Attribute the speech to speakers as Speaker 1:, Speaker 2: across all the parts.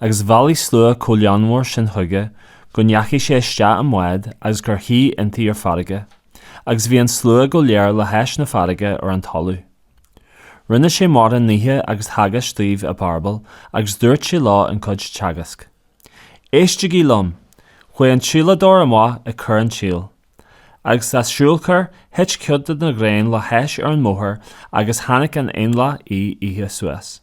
Speaker 1: agus bhailigh slua chomh líonmhar sin chuige go ndeachaigh sé isteach i mbád agus gur shuigh inti ar farraige, agus bhí an slua go léir le hais na farraige ar an talamh. Rinne sé mórán nithe agus theagasc dóibh i bparabail agus dúirt sé leo an chuid teagasc. Éistigí liom! Chuaigh an tsíoladóir amach ag cur an tsíl, agus sa síolchur thit cuid de na gráin le hais ar an mbóthar agus tháinig an éanlaith á ithe suas.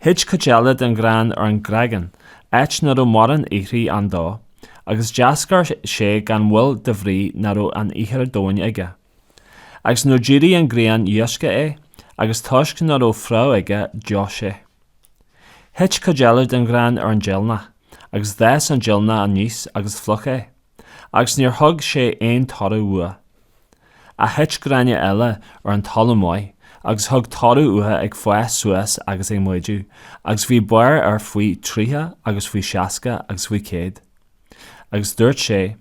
Speaker 1: Thit cuid eile den ghrán ar an gcreagán, áit ná raibh mórán ithreach ann dó, agus d'eascair sé gan mhoill de bhrí ná raibh an ithir domhain aige. Agus nuair d'éirigh an ghrian loisceadh é, agus toisc ná raibh fréamh aige d'fheoigh sé. Thit cuid eile den ghrán ar an deilgneach, agus d'fhás an deilgneach aníos agus phlúch é. agus níor thug sé aon toradh uaidh. A thit gráinne eile ar an talamh maith agus thug toradh uathu ag fás suas agus ag méadú agus bhí barr air faoi tríocha agus faoi seasca agus faoi céad. Agus dúirt sé,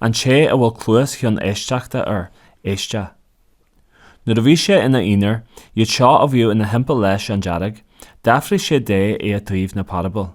Speaker 1: An té a bhfuil cluas chun éisteachta air, éisteadh. Nuair a bhí sé ina aonar, iad seo a bhíodh ina thimpeall leis an dáréag, d'fhiafraigh sé de i dtaobh na parabail.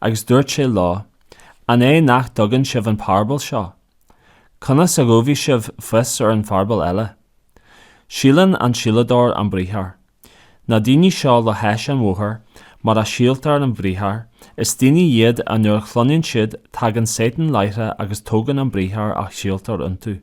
Speaker 1: agus dúirt sé leo, An é nach dtuigeann sibh an parabal seo? Conas a gheobhaidh sibh fios ar an pharabal eile? Síolann an síoladóir an briathar. Na daoine seo le hais an bhóthair, mar a síoltar an briathar, is daoine iad a nuair a chluineann siad tagann Sátan láithreach agus tógann an briathar a síoltar iontu.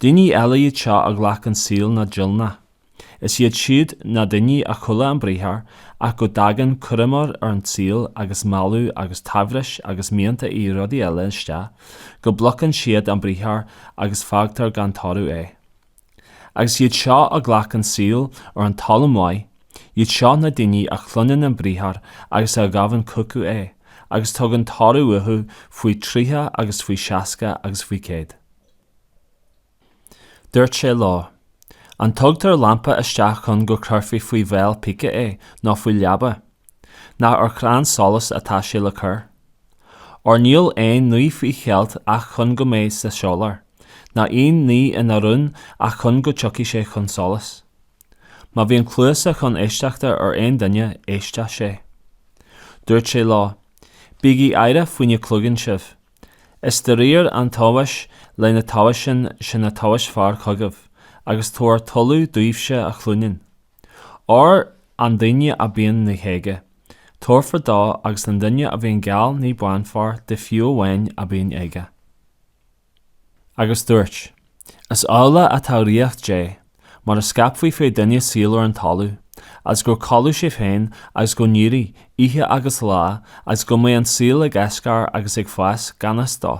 Speaker 1: Daoine eile iad seo a ghlac an síol na deilgní. Is iad siud na daoine a chuala an briathar ach go dtagann cúraimí ar an tsaol agus mealladh agus tsaibhris agus mianta i rudaí eile isteach go bplúchann siad an briathar agus fágtar gan toradh é. Agus iad seo a ghlac an síol ar an talamh maith, Iad seo na daoine a chluineann an Briathar agus a ghabhann chucu é, agus tugann toradh uathu faoi thríocha agus faoi seasca agus faoi chéad. Dúirt sé leo, An dtugtar lampa isteach chun go gcuirfí faoi bhéal peice é nó faoi leaba? Nach ar chrann solais atá sé le cur? Óir níl aon ní faoi cheilt ach chun go mbeidh sé soiléir, ná aon ní ina rún ach chun go dtiocfaidh sé chun solais. Má bhíonn cluasa chun éisteachta ar aon duine éisteadh sé. Dúirt sé leo, Bígí aireach faoina gcloiseann sibh. Is de réir an tomhais lena dtomhaiseann sibh a tomhaisfear chugaibh agus tabhair tuilleadh daoibhse a chluineann. Óir an duine a bíonn ní aige, tabharfar dó agus an duine a bhíonn gan ní bainfear de fiú amháin a bíonn aige. agus dúirt, Is amhlaidh atá ríocht Dé, mar a scaipfí fé duine síol ar an talamh, agus go gcodlódh sé féin agus go n-éirí, oíche agus lá, agus go mbeidh an síol ag eascar agus ag fás gan fhios dó.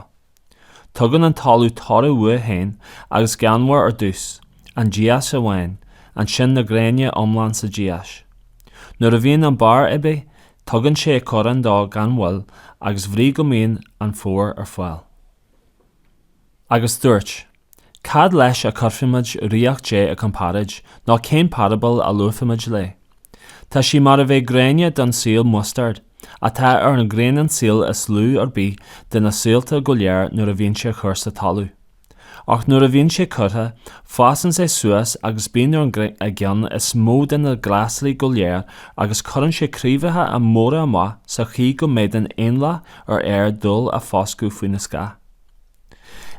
Speaker 1: Tugann an talamh toradh uaidh féin agus geamhar ar dtús, an dias amháin, ansin na gráinne iomlán sa dias. Nuair a bhíonn an barr aibí, Tugann sé corrán dó gan mhoill agus bhrí go mbíonn an fómhar ar fáil. Agus dúirt, Cad leis a chuirfimid Ríocht Dé i gcomparáid, nó cén parabal a luafaimid léi? Tá sí mar a bheadh gráinne den síol mustaird, atá ar an ghráinnín síl is lú ar bith de na síolta go léir nuair a bhíonn sé á chur sa talamh. Ach nuair a bhíonn sé curtha, fásann sé suas agus bíonn ar an gceann is mó de na glasraí go léir agus cuireann sé craobhacha móra amach sa chaoi go bhféadann éanlaith an aeir dul ar foscadh faoina scáth.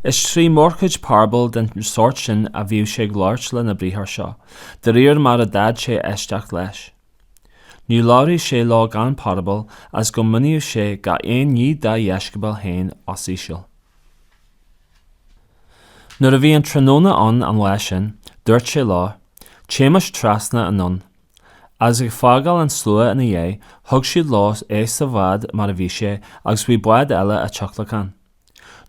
Speaker 1: Is trí mórchuid parabal den sórt sin a bhíodh sé ag labhairt lena bhriathar seo, de réir mar a d'fhéad sé éisteacht leis. Ní labhraíodh sé leo gan parabal agus go míníodh sé gach aon ní dá dheisceabail féin os íseal. Nuair a bhí an tráthnóna ann an lá sin, dúirt sé leo, Téimis trasna anonn. Agus ag fágáil an tslua ina dhiaidh, thug siad leo é sa bhád mar a bhí sé agus bhí bád eile á thionlacan.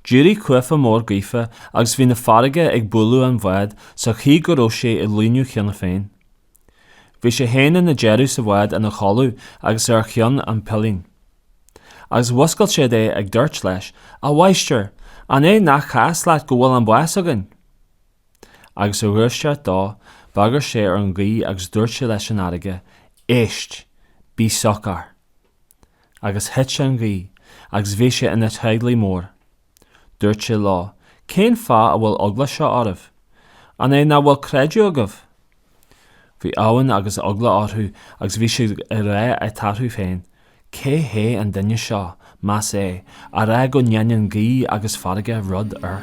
Speaker 1: D'éirigh cuaifeach mór gaoithe agus bhí na farraigí ag bualadh an bháid sa chaoi go raibh sé ag líonadh cheana féin. Bhí sé fhéin ina deireadh sa bhád ina chodladh agus ar cheann an pillín. Agus mhúscail siad é ag dúirt leis, A mháistir, an é nach cás leat go bhfuil an bás againn? Agus ar dhúiseacht dó, bhagair sé ar an ghaoth agus dúirt sé leis an fharraige, Éist! Bí socair! Agus thit an ghaoth agus bhí sé ina téigle mór. Dúirt sé leo, Cén fáth a bhfuil eagla seo oraibh? An é ná fuil creideamh agaibh? Bhí uamhan agus eagla orthu agus bhí siad ag rá eatarthu féin, Cé hé an duine seo, más ea, a rá go ndéanann gaoth agus farraige rud
Speaker 2: air.